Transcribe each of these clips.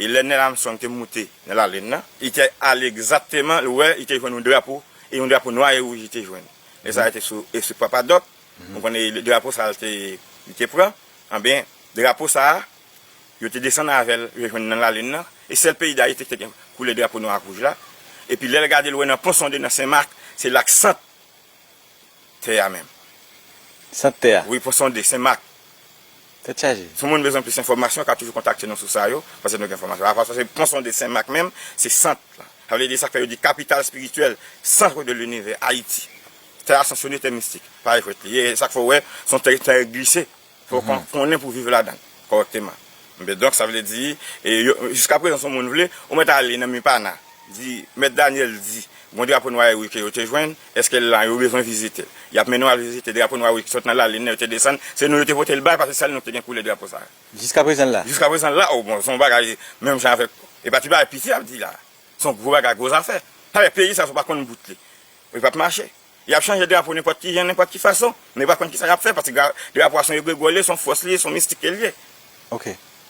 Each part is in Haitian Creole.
E lè Nel Armstrong te moute nan lalin nan, li te ale egzatteman, li wè, li te jwenn yon drapo, e yon drapo nwa e wouj li te jwenn. Nèg sa a te sou espri Papa Doc, nou konnen e drapo sa a li te, li te pran. Anben, drapo sa a, yo te desann avè l, yo jwenn nan lalin nan, e sèl peyi Dayiti ki te gen koulè drapo nwa ak wouj la. Epi lè l gade l wè nan Ponsonde, nan Sen Mak, se la k sant tè a menm. Sant tè a? Wi, pou sonde, Sen Mak. Tèt chaje. Si moun bezwen plis enfòmasyon, yo ka toujou kontakte nou sou sa yo, paske nou gen enfòmasyon avanse. Paske pon sonde Sen Mak menm, se sant la. Sa vle di, sa k fè yo di kapital espirityèl, centre de l'univers, Ayiti. Tè a sanksyone tè mistik. Pa jwèt li ye. E sa k fè w wè, s on tè ki trè glise. Fòk mwen konnen pou viv ladan l kòrèkteman. Enben donk, sa vle di, jiskaprezan si yon moun vle, ou mèt ale nan Mipana, di, Mèt Daniel di, gon drapo nwa Erik ke yo te jwenn, èske l lan, yo bezwen vizite l. Y ap mennen w al vizite drapo nwa Erik ki sot nan lalin nan, yo te desann, se nou yo te pote l bay, pase sèl nou ki te gen koulè drapo sa a. Jiskaprezan l la? Jiskaprezan l la, o bon, se yon bagay menm jan avèk, e pa ti bagay piti y ap di la a. Se yon gwo bagay, gwo zafè. Sa vle di peyi sa a si w pa konn bout li, li p ap mache. Y ap chanje drapo nenpòt ki jan, nenpòt ki fason, men yo pa konn ki sa y ap fè paske drapo a se yon egregò li ye, se yon fòs li ye, se yon mistik ke li ye.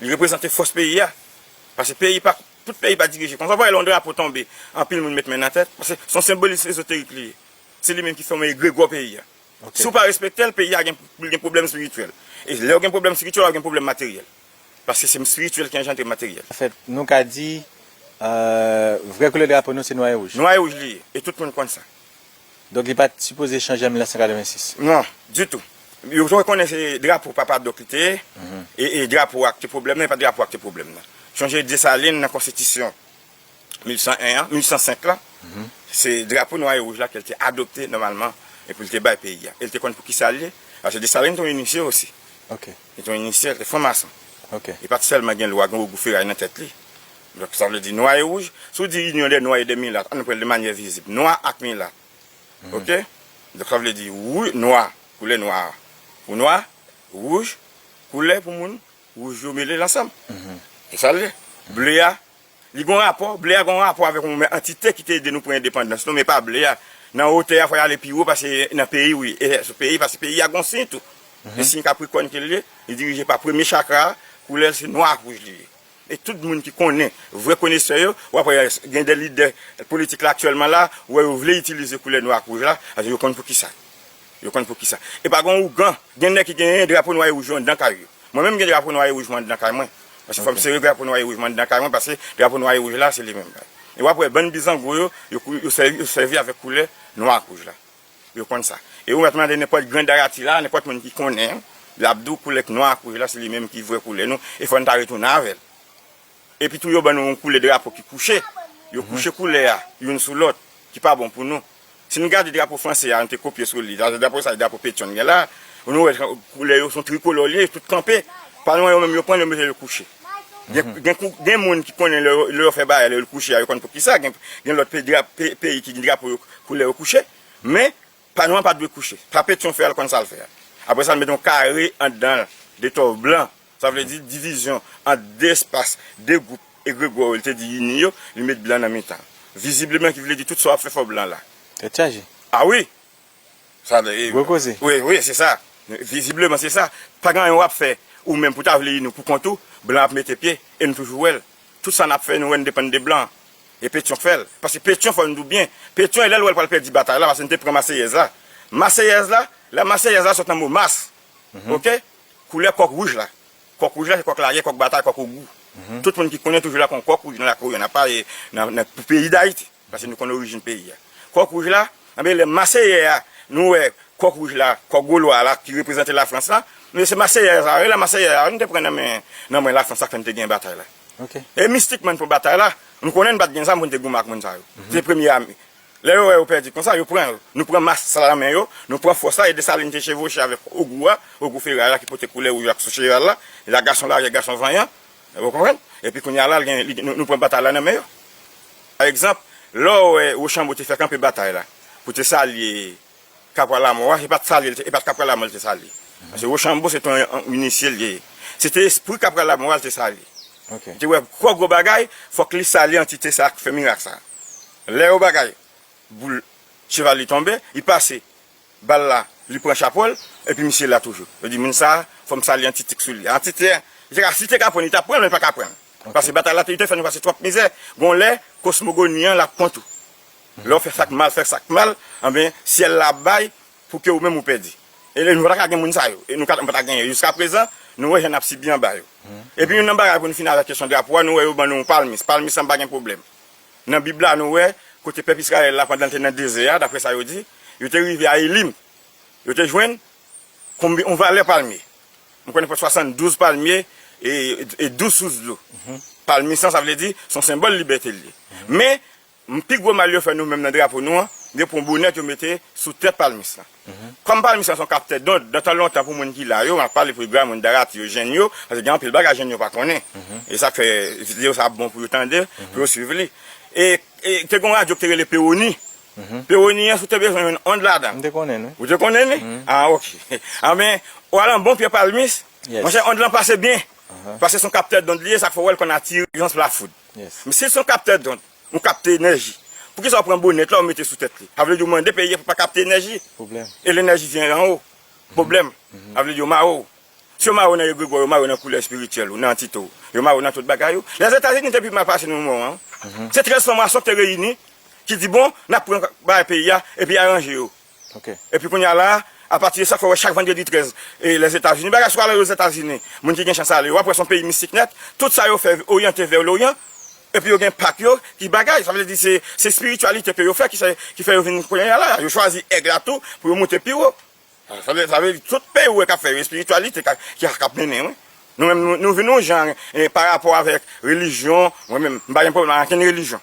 Li reprezante fòs peyi a. Paske peyi pa, tout peyi pa dirije konsa. W pa wè lè yon drapo tonbe, anpil moun met men nan tèt? Paske se yon senbolis ezoterik li ye. Se li menm ki fòme egregò peyi a. Si w pa respekte l, peyi a gen, li gen pwoblèm espirityèl. E lè w gen pwoblèm espirityèl, w ap gen pwoblèm materyèl. Paske se spirityèl ki anjandre materyèl. An fèt, nou ka di, vrè koulè drapo nou se nwa e wouj. Nwa e wouj li ye, e tout moun konn sa. Donk li pa t sipoze chanje an 1986. Non, ditou. Yo te konnen se drapo papa Doc li te ye, e drapo a ki te pwoblèm nan, e pa drapo a ki te pwoblèm nan. Sonje Desalin nan konstitisyon 1801 an, 1805 lan, se drapo nwa e wouj la ke l te adopte nòmalman e pou l te bay peyi a. E l te konn pou ki sa l ye, paske Desalin te yon inisye osi. Ok. Li te yon inisye, li te fran mason. Li pa t sèlman gen lwa, gen ogou feray nan tèt li. Donk sa vle di nwa e wouj. Si w di inyon dè nwa e dè milat, an nou pran l de manyè vizib. Nwa ak milat. Ok? Donk sa vle di wou, nwa, koulè nwa a pou nwa, wouj, koulè pou moun wouj yo mele l ansanm. Se sa l ye. Ble a. Li gon rapò, ble a gon rapò avèk yon antite ki te ede nou pran endepandans nou men pa ble a. Nan wotè a fò y ale pi wo pase nan peyi wi, e sou peyi pase peyi a gon siy tou. Se siy kaprikòn ke l ye, li dirije pa premye chakra a, koulè l se nwa ak wouj li ye. E tout moun ki konnen, vrè konesè yo, w ap wè gen de lidè politik la aktyèlman la, ou wè yo vle itilize koulè nwa ak wouj la, paske yo konn poukisa. Yo konn pou kisa. E pa gon ougan. Gen nèg ki genyen drapo nwa e wouj yo anndan kay yo. Mwen menm m gen drapo nwa e wouj mwen anndan kay mwen. Paske fò m sere drapo nwa e wouj mwen anndan kay mwen paske drapo nwa e wouj la se li menm. E w ap wè bann bizango yo, yo sèvi avèk koulè nwa ak wouj la. Yo konn sa. E ou mèt mande nenpòt grandarati la, nenpòt moun ki konnen, l ap di w koulè nwa ak wouj la se li menm ki vrè koulè nou e fò n ta retounen avè l. Epi tou yo ban nou yon koulè drapo ki kouche, yo kouche koulè a youn sou lòt, ki pa bon pou nou. Si nou gade drapo franse a, nou te kopye sou li, drapo sa se drapo Petion gen la, nou wè koulè yo son tricolor li ye, yo tout kanpe, pa lwen yo menm yo pran yo mete yo kouche. Gen moun ki konnen lè yo fè bagay, lè yo l kouche a, yo konn poukisa, gen lòt peyi ki gen drapo yo koulè yo kouche, men Panyo an pa dwe kouche. Tape ti yon fèy al konn sa l fè a. Aprè sa n mete yon kare anndan l, de to blan. Sa vle di divizyon ant de espas, de gwoup egregò yo li te di ini yo, li met blan nan mitan l. Vizibleman ki vle di tout sa w ap fè fò blan la. Tèt chaje. A wi! Sa vle di. Gwo koze. Wi, wi, se sa. Vizibleman se sa. Pa gen anyen w ap fè ou menm pou w ta vle ini w pou kont ou. Blan ap mete pye e nou toujou wè l. Tout sa n ap fè nou wè n depann de blan. E Petion k fèl. Paske Petion fò n di w byen, Petion e lè l wè l pral pèdi batay la paske n te pran Maseyèz la. Maseyèz la, la Maseyèz la sot nan mo Mas. Ok? Koulè kòk wouj la. Kòk wouj la se kòk lagè, kòk batay, kòk ogou. Tout moun ki konnen toujou la kon kòk wouj nan lakou yo. N ap pale nan pou peyi Dayiti. Paske nou konnen orijin peyi a. Kòk wouj la, anben lè Maseyè a, nou wè kòk wouj la, kòk golwa la ki reprezante Lafrans la. Anben se Maseyèz la, e lè Maseyè a, nou te pran nan men, nan men Lafrans sa k fè n te genyen batay la. E mistikman pou batay la, nou konnen n pa t gen zam pou n te goumen ak moun sa yo. Se premye ame. Lè yo wè yo pèdi konsa, yo pran l. Nou pran mas sa nan men yo, nou pran fòs la e Desalin te chevwoche avèk Ogou a, Ogou Feray la ki pote koulè wouj la ki sou cheval la. E la gason lagè, gason vanyan. Ou konprann? Epi kounye a la, nou pran batay la nan men yo. Pa egzanp, lè w wè Wochanbo te fè kanpe batay la pou te salye. Kapwa Lamò a, se pa t sale l te, e pa t Kapwa Lamò l te sale. Paske Wochanbo se te yon inisye l te ye. Se te espri Kapwa Lamò a l te sale. Li te wè twò gwo bagay, fòk li sale antite sa a k fè mirak sa a. Lè yo bagay, boul cheval li tonbe, li pase bal la, li pran chapo l, epi misye la toujou. Yo di moun sa a, fò m sale antite k sou li a. Antite a, li te ka, si l te ka pran, li t ap pran, men li pa ka pran. Paske batay la te, li te fè nou pase twòp mizè. Gon lè, kosmogoni an l ap pran tou. Lè w fè sa k mal, fè sa k mal, anben, syèl la ap bay pou ke ou menm ou pèdi. E nou pa ta ka gen moun sa yo. E nou ka, nou pa ta genyen. Jiskaprezan, nou wè jan n ap sibi anba yo. Epi youn nan bagay, pou n fini avèk kesyon drapo a, nou wè yo ban nou yon palmis. Palmis lan pa gen pwoblèm. Nan Bib la, nou wè, kote pèp Izrayèl la, pandan l te nan dezè a, dapre sa yo di, yo te rive a Elim. Yo te jwenn konbi, yon valè palmye. M konnen fè swasann-douz palmye e douz sous dlo. Palmis lan, sa vle di, s on senbòl libète l ye. Men, M Pi gwo mal yo fè nou menm nan drapo nou an gen pou yon bonèt yo mete sou tèt palmis lan. Kòm palmis lan se yon kaptè dond, nan tan lontan pou moun ki la yo, m ap pale pou Edgar, moun Darati yo, jenn yo, paske gen anpil bagay jenn yo pa konnen. E sa k fè videyo sa ap bon pou yo tande l, pou yo suiv li. E te gen yon radyo ki te rele Pewoni. Pewoni an si w te bezwen jwenn ond ladan l. M te konnen l wi. Ou te konnen li? A ok. Anben, ou al an bon pye palmis, monchè ond lan pase byen. Paske se yon kaptè dond li ye, sa k fè ou wè l konn atire yon flafoud. Misye son kaptè dond, ou kapte enèji. Poukisa ou pran bonèt la ou mete sou tèt li? Avle di ou mande peyi a pou pa kapte enèji? Pwoblèm. E lenèji vyen an wo? Pwoblèm. Avle di yo mare w. Si yo mare w nan egregwa w, yo mare w nan koulè espirityèl ou, nan antite w. Yo mare w nan tout bagay ou. Lèzetazini te pi mal pase nou nan moman an. Se 13 franc-maçon ki te reyini, ki di bon, n ap pran bagay peyi a, epi aranje yo. Epi kounye a la, apati de sa, fè wè chak vandredi 13, Lèzetazini, bagay sou ale Lèzetazini, moun ki gen chans ale, wap wè son peyi mistik nèt, tout sa yo fè oryante vè loryan, epi yo gen pak yo ki bagay, sa vle di se espirityalite ke yo fè ki fè yo vin kounye a la, yo chwazi èg la tou pou yo moute pi wo. Sa vle di tout peyi ou wè kap fè yo espirityalite kap mennen wi. Nou menm nou vin yon jan parapò avèk relijyon, mwen menm m pa gen pwoblèm ak ankenn relijyon.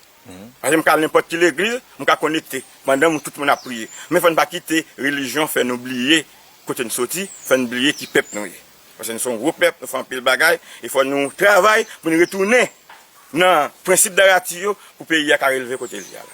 Paske m ka al nenpòt ki legliz, m ka konekte pandan tout moun ap priye. Men fò n pa kite relijyon fè nou bliye kote n soti, fè n bliye ki pèp nou ye. Paske nou se yon gwo pèp, nou fè anpil bagay, e fò nou travay pou n retounen nan prensip Darati yo pou peyi a ka releve kote l ye a la.